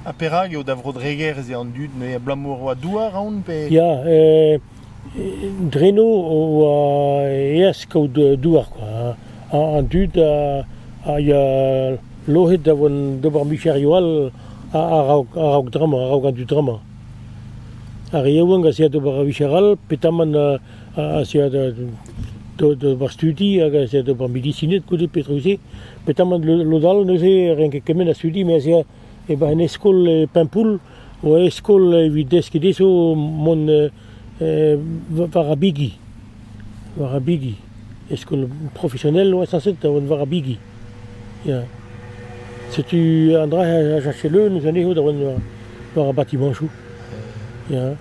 Ha perak eo da Vro-Dreger ez eo an dud neuze abalamour oa douar aon pe? Ya, e, dreno oa eas kaout douar kwa. An dud a ya lohet da vont d'ober micherioù all a-raok dramañ, a-raok an dud dramañ. Ar re yaouank a zea d'ober ur micher all, petamant aze a deu d'ober studi hag aze a deu d'ober medisined goude petra-se. Petamant lod all neuze renk kement a studi me aze e-barzh un eskol e Paimpoull oa eskol evit deskiñ dezho mont war ar bigi. War ar bigi. Eskol profesionnel oa sañset da vont war ar bigi. Ya. Setu an dra a cherche leun eus anezho da vont war ar batimañsoù. Ya.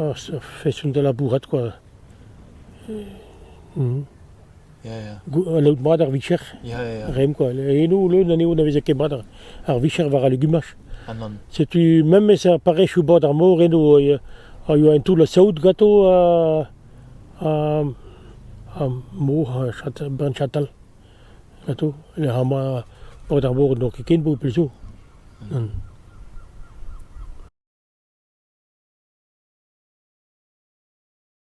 ur feson da labourat kwa. Ya, ya. Anaout mat ar vicher, Ya, ya, ya. reomp kwa. Eno leun anezho na veze ket mat ar, ar vicher war al legumaj. Aman. Setu memes ar parrechoù bord ar mor eno a- a yoa un toull a saout ganto ha ha ha mor ha chatal, bann chatal. Atô ha ma paotr ar bobl n'eo ket ken bobl zo.